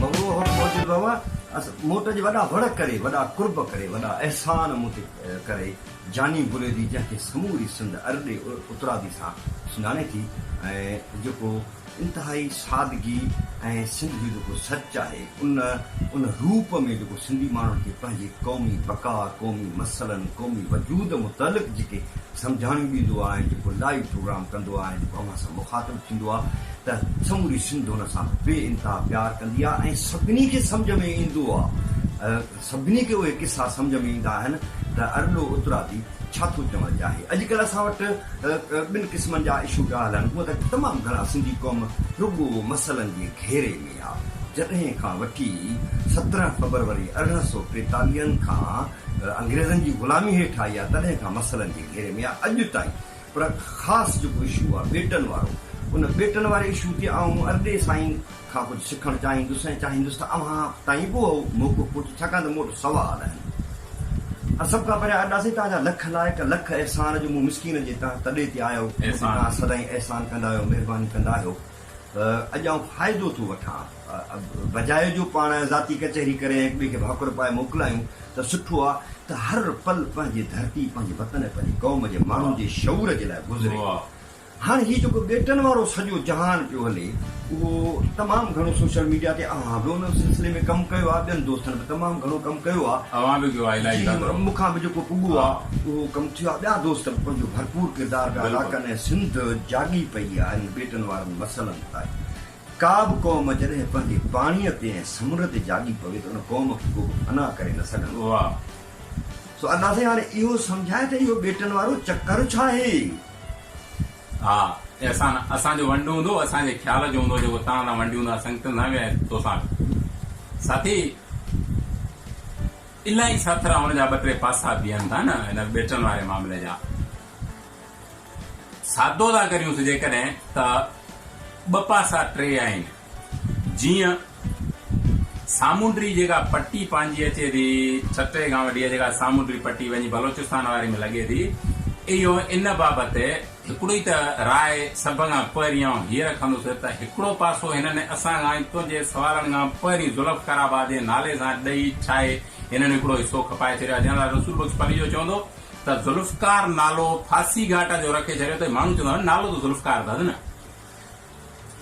بگڙو حق موجب به هئا اس مون تنهنجي وڏا وڙ ڪري وڏا قرب ڪري وڏا احسان مون تي ڪري جاني بريدي جنهن کي سموري سنڌ ارڏي اترادي سان سڃاڻي ٿي ۽ جيڪو انتهائي سادگي ۽ سنڌ جو جيڪو سچ آهي ان ان روپ ۾ جيڪو سنڌي ماڻهن کي پنهنجي قومي بقا، قومي مسئلن، قومي وجود متعلق جيڪي سمجهاڻيون ڏيندو آهي ۽ جيڪو لائيو پروگرام ڪندو آهي ۽ جيڪو اوهان سان مخاطب ٿيندو آهي ته سموري سنڌ ان سان بي انتها پيار ڪندي آهي ۽ سڀني کي سمجهه ۾ ايندو آهي. سڀني کي اهي قصا سمجهه ۾ ايندا آهن ته ارڏو اترادي ڇا ٿو چوڻ چاهي. اڄڪلهه اسان وٽ ٻن قسمن جا اشو پيا هلن. هونء ته تمام گهڻا سنڌي قوم رڳو مسئلن جي گهيري ۾ آ. جڏهن کان وٺي سترهن فبروري ارڙهن سؤ ٽيتاليهن کان انگريزن جي غلامي هيٺ آئي آ تڏهن کان مسئلن جي گهيري ۾ آ. اڄ تائين پر خاص جيڪو اشو آ ٻيٽن وارو ان ٻيٽن واري اشو تي آئون ارڏي سائين کان ڪجهه سکڻ چاهيندس ۽ چاهيندس ته اوهان تائين به اهو موقعو پهچي ڇاڪاڻ ته مون وٽ سوال آهن ۽ سڀ کان پهريان ارڏا سائين توهان جا لک لائق لک احسان جو مون مسڪين جي تهه تڏي تي آيو مون تي توهان سدائين احسان ڪندا آهيو مهرباني ڪندا آهيو اڄ آئون فائدو ٿو وٺان. بجاء جو پاڻ ذاتي ڪچهري ڪري ۽ هڪ ٻئي کي ڀاڪر پائي موڪلايون ته سٺو آ ته هر پل پنهنجي ڌرتي، پنهنجي وطن ۽ پنهنجي قوم جي ماڻهن جي شعور جي لاء گذري. هاڻ هي جيڪو ٻيٽن وارو سڄو جهان پيو هلي اهو تمام گهڻو سوشل ميڊيا تي اوهان به ان سلسلي ۾ ڪم ڪيو آ، ٻين دوستن به تمام گهڻو ڪم ڪيو آ. اوهان به ڪيو آ الائي ڇا ڪيو. مون کان به جيڪو پٻو آ اهو ڪم ٿيو آ، ٻيا دوست به پنهنجو ڀرپور ڪردار پيا ادا ڪن ۽ سنڌ جاڳي پئي آ. ڪرڻ وارن مسئلن لاء ڪا به قوم جڏهن پنهنجي پاڻيء تي ۽ سمنڊ تي جاڳي پوي ته ان قوم کي ڪوبه فنا ڪري نه سگهندو آهي. سو الله سائين هاڻي اهو سمجهاء ته اهو ٻيٽن وارو چڪر ڇا آهي؟ ها اي احسان! اسان جو ونڊ هوندو اسان جي خيال جو هوندو جيڪو تان تان ونڊيون ٿا سنگتن سان به ۽ توسان به. ساٿي! الائي ساٿرا هئڻ جا ٻه ٽي پاسا بيهن ٿا نه هن ٻيٽن واري معاملي جا. سادو ٿا ڪريون سه جيڪڏهن ته ٻه پاسا ٽي آهن جيئن سامونڊي جيڪا پٽي پنهنجي اچي ٿي ڇٽي کان وٺي اها جيڪا سامونڊي پٽي وڃي بلوچستان واري ۾ لڳي ٿي اهو ان بابت هڪڙو ئي ته راء سڀ کان پهرين آئون هيء رکندس ته هڪڙو پاسو هنن اسان کان تنهنجي سوالن کان پهرين ذوالفقار آباد جي نالي سان ڏئي ڇاهي هنن هڪڙو حصو کپائي ڇڏيو آهي جنرل رسول بخش پليجو چوندو ته ذوالفقار نالو ڦاسي گهاٽ جو رکي ڇڏيو اٿئي، ماڻهو چوندا هئا نالو ته ذوالفقار اٿس نه.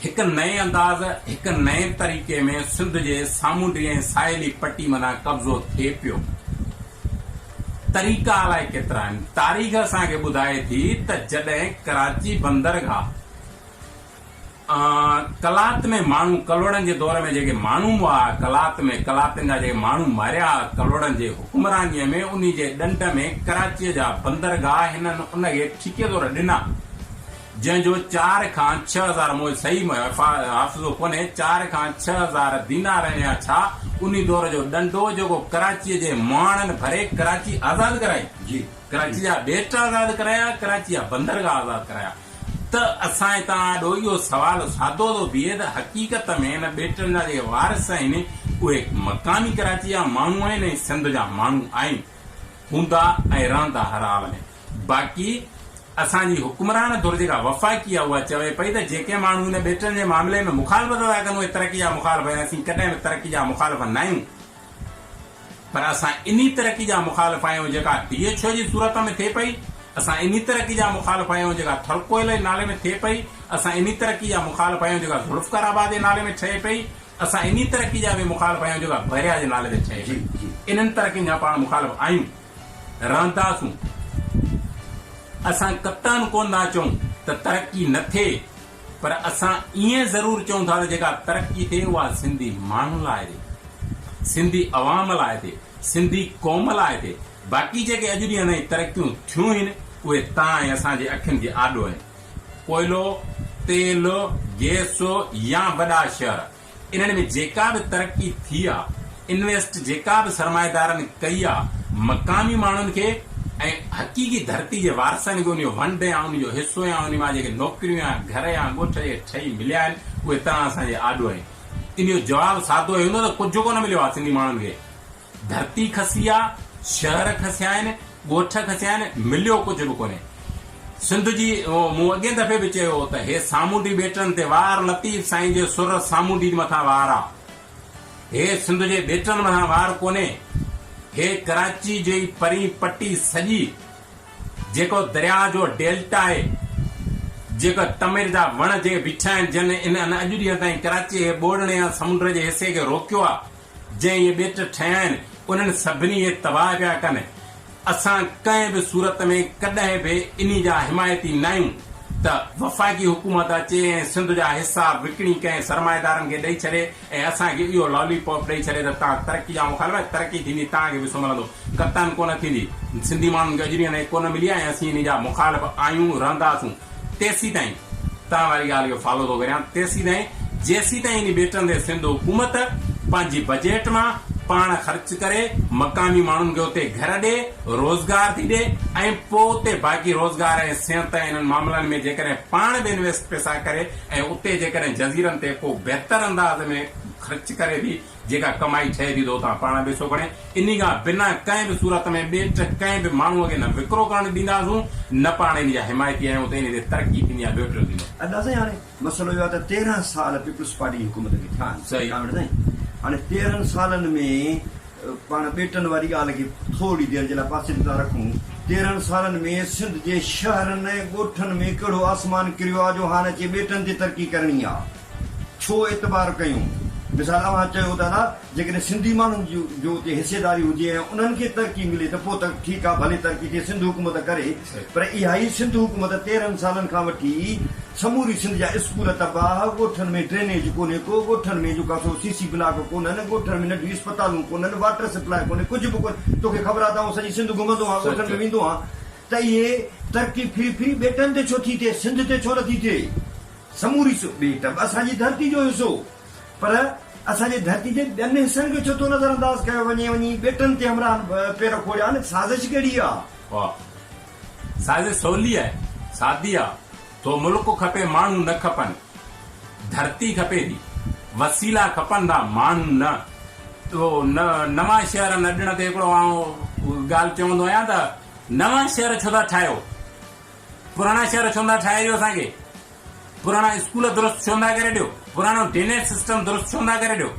هڪ نئين انداز، هڪ نئين طريقي ۾ سنڌ جي سامونڊي ۽ ساحلي پٽي مٿان قبضو ٿئي پيو. طريقا الائي ڪيترا آهن. تاريخ اسان کي ٻڌائي ٿي ته جڏهن ڪراچي بندرگاهه قلات ۾ ماڻهو ڪلهوڙن جي دور ۾ جيڪي ماڻهو مئا قلات ۾ قلاتين جا جيڪي ماڻهو ماريا ڪلهوڙن جي حڪمرانيء ۾ انهي جي ڏنڊ ۾ ڪراچيء جا بندرگاهه هنن ان کي ٺيڪي طور ڏنا جنهن جو چار کان ڇهه هزار مئو صحيح حافظو ڪونهي چار کان ڇهه هزار دينار يا ڇا انهي دور جو ڏنڊ هو جيڪو ڪراچيء جي مئاڻن ڀري ڪراچي آزاد ڪرائي ڪراچي جا ٻيٽ آزاد ڪرايا ڪراچي جا بندرگاهه آزاد ڪرايا. ته اسان توهان آڏو اهو سوال سادو ٿو بيهي ته حقيقت ۾ هن ٻيٽن جا جيڪي وارث آهن اهي مقامي ڪراچي جا ماڻهو آهن ۽ سنڌ جا ماڻهو آهن، هوندا ۽ رهندا هر حال ۾ باقي اسان جي حڪمران ڌر جيڪا وفاقي آهي اها چوي پئي ته جيڪي ماڻهو هن ٻيٽن جي معاملي ۾ مخالفت ٿا ڪن اهي ترقي جا مخالف آهن، اسين ڪڏهن به ترقي جا مخالف ناهيون. پر اسان انهي ترقي جا مخالف آهيون جيڪا ڊي ايڇ او جي صورت ۾ ٿئي پئي، اسان انهي ترقي جا مخالف آهيون جيڪا ٿرڪوئل جي نالي ۾ ٿئي پئي، اسان انهي ترقي جا مخالف آهيون جيڪا ذوالفقار آباد جي نالي ۾ ٺهي پئي، اسان انهي ترقي جا به مخالف آهيون جيڪا بحريا جي نالي تي ٺهي پئي. انهن ترقين جا پاڻ مخالف آهيون، رهنداسون. اسان قطعاً ڪونه ٿا چئون ته ترقي نه ٿئي. پر اسان ائين ضرور چئون ٿا ته جيڪا ترقي ٿئي اها سنڌي ماڻهن لاء ٿئي، سنڌي عوام لاء ٿئي، سنڌي قوم لاء ٿئي، باقي جيڪي اڄ ڏينهن تائين ترقيون ٿيون هين اهي توهان ۽ اسان جي اکين جي آڏو آهن. ڪوئلو، تيل، گيس يا وڏا شهر. انهن ۾ جيڪا به ترقي ٿي آ، انويسٽ جيڪا به سرمائيدارن ڪئي آ، مقامي ماڻهن کي ۽ حقيقي ڌرتي جي وارثن کي ان جو ونڊ يا ان جو حصو يا ان مان جيڪي نوڪريون يا گهر يا ڳوٺ جي ٺهي مليا آهن، اهي تنها اسان جي آڏو آهن. ان جو جواب سادو هي هوندو ته ڪجهه ڪونه مليو آ سنڌي ماڻهن کي، ڌرتي کسي آ، شهر کسيا آهن، ڳوٺ کسيا آهن، مليو ڪجهه به ڪونهي. سنڌ جي مون اڳين دفعي به چيو هو ته هي سامونڊي ٻيٽن تي وار لطيف سائين جي سر سامونڊين مٿان وار آ. هي سنڌ جي ٻيٽن مٿان وار ڪونهي. هي ڪراچي جي پرين پٽي سڄي جيڪو درياء جو ڊيلٽا آهي، جيڪو تمر جا وڻ جي بيٺا آهن جن ان اڄ ڏينهن تائين ڪراچي جي ٻوڙڻي يا سمنڊ جي حصي کي روڪيو آ. جي اهي ٻيٽ ٺهيا آهن، انهن سڀني اهي تباهه پيا ڪن. اسان ڪنهن به صورت ۾ ڪڏهن به انهي جا حمايتي ناهيون ته وفاقي حڪومت اچي ۽ سنڌ جا حصا وڪڻي ڪنهن سرمائيدارن کي ڏئي ڇڏي ۽ اسان کي اهو لالي پاپ ڏئي ڇڏي ته توهان ترقي جا مخالف آهيو، ترقي ٿيندي توهان کي به سو ملندو، قطعاً ڪونه ٿيندي. سنڌي ماڻهن کي اجري انهي ڪونه ملي آهي ۽ اسين انهي جا مخالف آهيون، رهنداسون. تيسيتائين توهان واري ڳالهه جو فالو ٿو ڪريان تيسيتائين جيسيتائين انهي ٻيٽن تي سنڌ حڪومت پنهنجي بجيٽ مان پاڻ خرچ ڪري مقامي ماڻهن کي اتي گهر ڏي روزگار ٿي ڏي ۽ پوء اتي باقي روزگار ۽ صحت ۽ انهن معاملن ۾ جيڪڏهن پاڻ به انويسٽ پئسا ڪري ۽ اتي جيڪڏهن جزيرن تي ڪو بهتر انداز ۾ خرچ ڪري ٿي جيڪا ڪمائي ٺهي ٿي تو تان پاڻ پئسو کڻي انهي کان بنا ڪنهن به صورت ۾ ٻين ٽه ڪنهن به ماڻهوء کي نه وڪرو ڪرڻ ڏينداسون نه پاڻ انهي جا حمايتي آهيون ته انهي تي ترقي ٿيندي يا ٻيو ٽيو ٿيندو. ادا سائين هاڻي مسئلو اهو آهي ته تيرهن سال پيپلز پارٽي جي حڪومت کي ٿيا آهن صحيح. ڪامريڊ سائين هاڻي تيرهن سالن ۾ پاڻ ٻيٽن واري ڳالهه کي ٿورڙي دير جي لاء پاسي تي ٿا رکون تيرهن سالن ۾ سنڌ جي شهرن ۽ ڳوٺن ۾ ڪهڙو آسمان ڪريو آ جو هاڻ اچي ٻيٽن تي ترقي ڪرڻي آ. ڇو اعتبار ڪيون؟ مثال اوهان چيو ته ادا جيڪڏهن سنڌي ماڻهن جو اتي حصيداري هجي ۽ انهن کي ترقي ملي ته پوء ته ٺيڪ آهي ڀلي ترقي ٿئي سنڌ حڪومت ڪري پر اها ئي سنڌ حڪومت تيرهن سالن کان وٺي سموري سنڌ جا اسڪول تباهه ڳوٺن ۾ ڊرينيج ڪونهي ڪو ڳوٺن ۾ جو ڪاسو سي سي بلاڪ ڪونهن ڳوٺن ۾ ننڍيون اسپتالون ڪونهن واٽر سپلاء ڪونهي ڪجهه به ڪونهي توکي خبر آهي ته آئون سڄي سنڌ گهمندو آهيان ڳوٺن ۾ ويندو آهيان ته اهي ترقي ڦري ڦري ٻيٽن تي ڇو ٿي ٿئي سنڌ تي ڇو نٿي ٿئي؟ سموري ٻيٽ به اسان جي ڌرتي جو حصو هو پر اسان جي ڌرتي جي ٻين حصن کي ڇو ٿو نظر انداز ڪيو وڃي وڃي ٻيٽن تي همراهن پير کوڙيا آهن سازش ڪهڙي آ. واهه سازش سولي آهي سادي آ ٿو ملڪ کپي ماڻهو نه کپن ڌرتي کپي ٿي وسيلا کپن ٿا ماڻهو نه اهو نوان شهر ان ڏڻ تي هڪڙو آئون ڳالهه چوندو آهيان ته نوان شهر ڇو ٿا ٺاهيو پراڻا شهر ڇو نٿا ٺاهي ڏيو اسان کي پراڻا اسڪول درست ڇو نٿا ڪري ڏيو پراڻو ڊينيج سسٽم درست ڇو نٿا ڪري ڏيو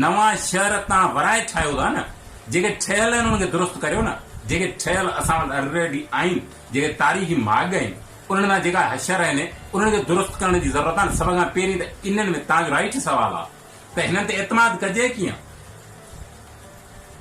نوان شهر تان ورائي ٺاهيو ٿا نه جيڪي ٺهيل آهن انهن کي درست ڪريو نه جيڪي ٺهيل اسان وٽ الريڊي آهن جيڪي تاريخي ماڳ آهن انهن مان جيڪا حشر آهن انهن کي درست ڪرڻ جي ضرورت آهي نه سڀ کان پهرين ته انهن ۾ تان جو رائٽ سوال آهي ته هنن تي اعتماد ڪجي ڪيئن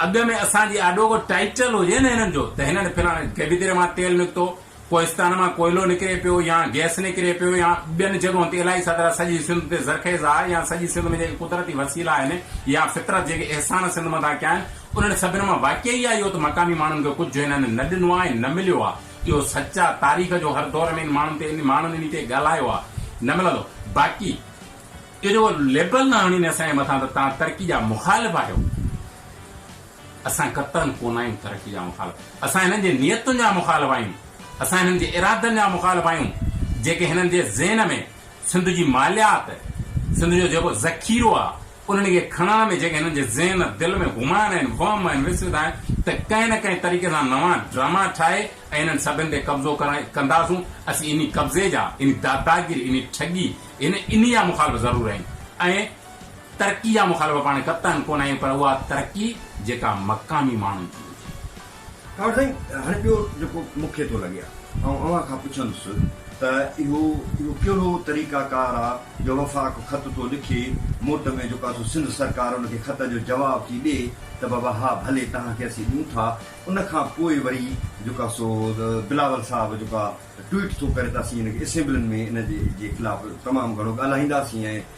اڳ ۾ اسان جي آڏو ڪو ٽائيٽل هجي نه هنن جو ته هنن فلاڻي گيبي دريا مان تيل نڪتو ڪوهستان مان ڪوئلو نڪري پيو يا گئس نڪري پيو يا ٻين جڳهن تي الائي ڇا ته سڄي سنڌ تي زرخيز آهي يا سڄي سنڌ ۾ جيڪي قدرتي وسيلا آهن يا فطرت جيڪي احسان سنڌ مٿان ڪيا آهن انهن سڀن مان واقعي اها ئي اهو ته مقامي ماڻهن کي ڪجهه هنن نه ڏنو آهي نه مليو آهي اهو سچ آهي تاريخ جو هر دور ۾ ان ماڻهن تي ماڻهن انهي تي ڳالهايو آهي نه ملندو باقي اهو جيڪو ليبل نه هڻين اسان جي مٿان ته تهان ترقي جا مخالف آهيو. اسان قطعاً ڪونه آهيون ترقي جا مخالف، اسان هنن جي نيتن جا مخالف آهيون، اسان هنن جي ارادن جا مخالف آهيون، جيڪي هنن جي ذهن ۾ سنڌ جي ماليات، سنڌ جو جيڪو ذخيرو آهي، انهن کي کڻڻ ۾ جيڪي هنن جي ذهن دل ۾ گمان آهن، وهم آهن، وسوسه آهن ته ڪنهن نه ڪنهن طريقي سان نوان ڊراما ٺاهي ۽ انهن سڀن تي قبضو ڪرڻ ڪنداسون، اسين انهي قبضي جا، انهي داداگيري، انهي ٺڳي، انهي جا مخالف ضرور آهيون ۽ ترقي جا مخالف پاڻ قطعاً ڪونه آهيون پر اها ترقي جيڪا مقامي ماڻهن جي هجي. ڪاوڙ سائين هاڻي ٻيو جيڪو مون کي ٿو لڳي آئون اوهان کان پڇندس ته اهو اهو ڪهڙو طريقه ڪار آ جو وفاق خط ٿو لکي موٽ ۾ جيڪو آ سو سنڌ سرڪار ان کي خط جو جواب ٿي ڏي ته بابا ها ڀلي توهان کي اسين ڏيون ٿا ان کان پوء وري جيڪو آ سو بلاول صاحب جيڪو آ ٽوئيٽ ٿو ڪري ته اسين ان کي اسيمبلين ۾ ان جي جي خلاف تمام گهڻو ڳالهائينداسين ۽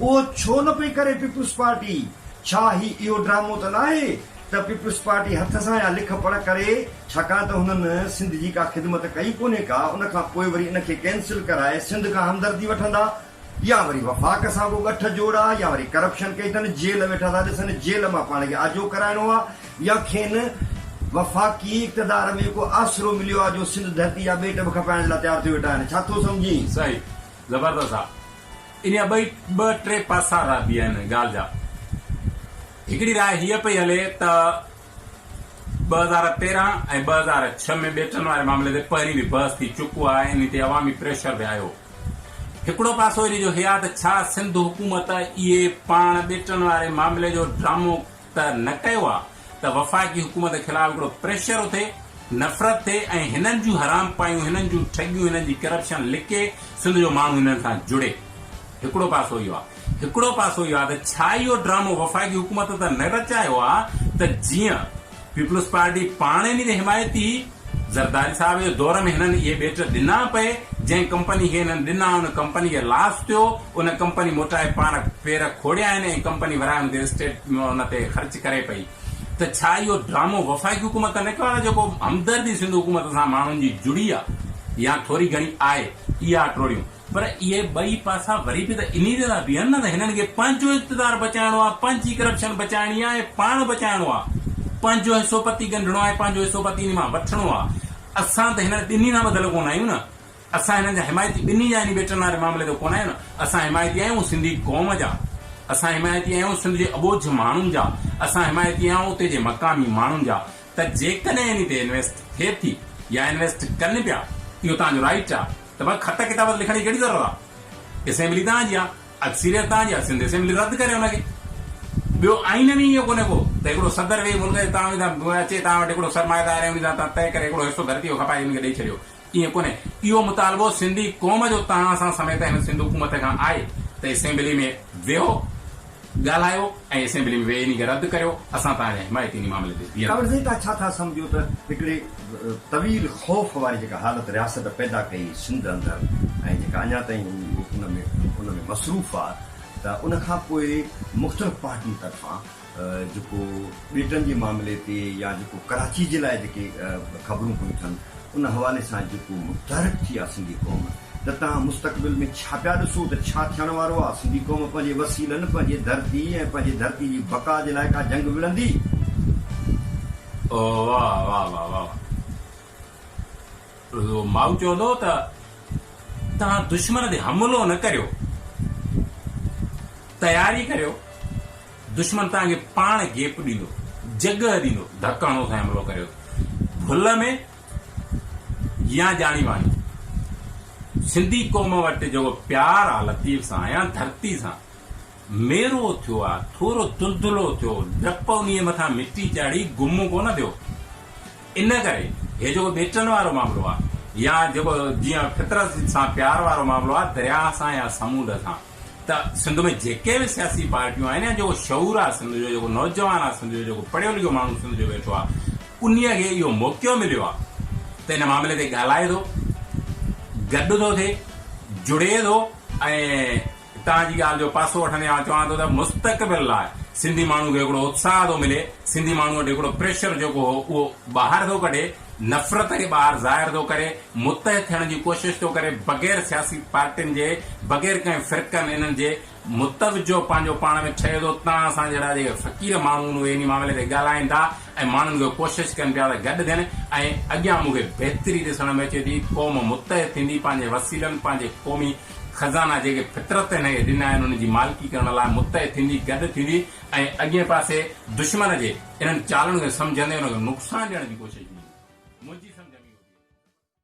اهو ڇو نه پئي ڪري پيپلز پارٽي؟ ڇا هي اهو ڊرامو ته ناهي ته پيپلز پارٽي هٿ سان يا لک پڙهه ڪري ڇاڪاڻ ته هنن سنڌ جي ڪا خدمت ڪئي ڪونهي ڪا ان کان پوء وري ان کي ڪينسل ڪرائي سنڌ کان همدردي وٺندا يا وري وفاق سان ڪو ڳٺ جوڙا يا وري ڪرپشن ڪئي اٿن جيل ويٺا ٿا ڏسن جيل مان پاڻ کي آجو ڪرائڻو آ يا کين وفاقي اقتدار ۾ ڪو آسرو مليو آ جو سنڌ ڌرتي جا ٻيٽ به کپائڻ جي لاء تيار ٿيو ويٺا آهن ڇا ٿو سمجهين؟ صحيح زبردست آ. ان جا ٻئي ٻه ٽي پاسا رهه بي آهن ڳالهه جا. هڪڙي راء هيء پئي هلي ته ٻه هزار تيرهن ۽ ٻه هزار ڇهه ۾ ٻيٽن واري معاملي تي پهرين به بحث ٿي چڪو آهي ۽ انهي تي عوامي پريشر به آيو. هڪڙو پاسو ان جو هيا ته ڇا سنڌ حڪومت اهي پاڻ ٻيٽن واري معاملي جو ڊرامو ته نه ڪيو آ ته وفاقي حڪومت خلاف هڪڙو پريشر اٿي، نفرت ٿئي ۽ هنن جون حرام پايون، هنن جون ٺڳيون، هنن جي ڪرپشن لڪي سنڌ جو ماڻهو هنن سان جڙي. هڪڙو پاسو اهو آ. هڪڙو پاسو اهو آ ته ڇا اهو ڊرامو وفاقي حڪومت ته نه رچايو آ ته جيئن پيپلز پارٽي پاڻ انهي جي حمايتي زرداري صاحب جي دور ۾ هنن اهي ٻيٽ ڏنا پئي، جنهن ڪمپني کي هنن ڏنا ان ڪمپني کي لاس ٿيو، ان ڪمپني موٽائي پاڻ پير کڙيا آهن ۽ ڪمپني ورايم تي اسٽيٽ ان تي خرچ ڪري پئي ته ڇا اهو ڊرامو وفاقي حڪومت ته نه ڪيو آهي ته جيڪو همدردي سنڌ حڪومت سان ماڻهن جي جڙي آهي يا ٿوري گهڻي آهي اها ٽوڙيون پر اهي ٻئي پاسا وري به ته انهي تي ٿا بيهن نه ته هنن کي پنهنجو اقتدار بچائڻو آهي، پنهنجي ڪرپشن بچائڻي آهي ۽ پاڻ بچائڻو آهي. پنهنجو حصو پتي ڳنڍڻو آهي، پنهنجو حصو پتي انهي مان وٺڻو آهي. اسان ته هنن ٻنهي سان ٻڌل ڪونه آهيون نه. اسان هنن جا حمايتي ٻنهي جا انهي ٻيٽن واري معاملي تي ڪونه آهيون نه. اسان حمايتي آهيون سنڌي قوم جا. اسان حمايتي آهيون سنڌ جي اٻوجهه ماڻهن جا. اسان حمايتي آهيون اتي جي مقامي ماڻهن جا. ته جيڪڏهن انهي تي انويسٽ ٿئي ٿي يا انويسٽ ڪن پيا اهو توهان جو رائيٽ آ ته پوء خط ڪتاب تي لکڻ جي ڪهڙي ضرورت آ اسيمبلي توهان جي آ اڪثريت توهان جي آ سنڌ اسيمبلي رد ڪري ان کي ٻيو آئين ۾ اهو ڪونهي ڪو ته هڪڙو صدر ويهي ملڪ جي توهان اچي توهان وٽ هڪڙو سرمائيدار ۽ انهي سان توهان طئي ڪري هڪڙو حصو ڌرتي جو کپائي انهن کي ڏئي ڇڏيو ائين ڪونهي، اهو مطالبو سنڌي قوم جو تهان سان سميت هن سنڌ حڪومت کان آهي ته اسيمبلي ۾ ويهو، ڳالهايو ۽ اسيمبلي ۾ ويهي انهي کي رد ڪريو، اسان تهان جا حمايتي انهي معاملي تي بيهنداسين. توهان ڏسو ته ڇا ٿا سمجهو ته هڪڙي طويل خوف واري جيڪا حالت رياست پيدا ڪئي سنڌ اندر ۽ جيڪا اڃا تائين هو ان ۾ ان ۾ مصروف آ ته ان کان پوء مختلف پارٽين طرفان جيڪو ٻيٽن جي معاملي تي يا جيڪو ڪراچي جي لاء جيڪي خبرون پيون ٿين ان حوالي سان جيڪو متحرڪ ٿي آ سنڌي قوم ته تهان مستقبل ۾ ڇا پيا ڏسو ته ڇا ٿيڻ وارو آ سنڌي قوم پنهنجي وسيلن پنهنجي ڌرتي ۽ پنهنجي ڌرتي جي بقا جي لاء ڪا جنگ وڙهندي. اوه واھ واھ واھ واھ واھ. ماء چيو هوندو ته توهان دشمن تي حملو نه ڪريو، تياري ڪريو، دشمن توهان کي پاڻ گيپ ڏيندو، جڳهه ڏيندو، ڌڪ هڻو سائين حملو ڪريو ڀل ۾ يا ڄاڻي واڻي. سنڌي قوم وٽ جيڪو پيار آ لطيف سان يا ڌرتي سان، ميرو ٿيو آ، ٿورو دلدلو ٿيو، ڊپ انهيء مٿان مٽي چاڙهي گم ڪونه ٿيو. ان ڪري هي جيڪو ٻيٽن وارو معاملو آ يا جيڪو جيئن فطرت سان پيار وارو معاملو آ درياء سان يا سمونڊ سان ته سنڌ ۾ جيڪي به سياسي پارٽيون آهن يا جيڪو شعور آ سنڌ جو جيڪو نوجوان آ سنڌ جو جيڪو پڙهيو لکيو ماڻهو سنڌ جو ويٺو آ انهي کي اهو موقعو مليو آ ته ان معاملي تي ڳالهائي ٿو گڏ ٿو ٿئي جڙي ٿو ۽ هتان جي ڳالهه جو پاسو وٺندي آئون چوان ٿو ته مستقبل لاء سنڌي ماڻهو کي هڪڙو اتساهه ٿو ملي، سنڌي ماڻهو وٽ هڪڙو پريشر جيڪو هو اهو ٻاهر ٿو ڪڍي، نفرت کي ٻاهر ظاهر ٿو ڪري، متحد ٿيڻ جي ڪوشش ٿو ڪري بغير سياسي پارٽين جي، بغير ڪنهن فرقن انهن جي متوجهه پنهنجو پاڻ ۾ ٺهي ٿو، تان اسان جهڙا جيڪي فقير ماڻهو آهن اهي انهي معاملي تي ڳالهائين ٿا ۽ ماڻهن کي ڪوشش ڪن پيا ته گڏ ٿين ۽ اڳيان مون کي بهتري ڏسڻ ۾ اچي ٿي قوم متحد ٿيندي پنهنجي وسيلن پنهنجي قومي خزانا جيڪي فطرت هن کي ڏنا آهن ان جي مالڪي ڪرڻ لاء متحد ٿيندي، گڏ ٿيندي ۽ اڳئين پاسي دشمن جي انهن چالن کي سمجهندي ان کي نقصان ڏيڻ جي ڪوشش ڪندي. منهنجي سمجهه ۾ اهو ٿئي ٿو.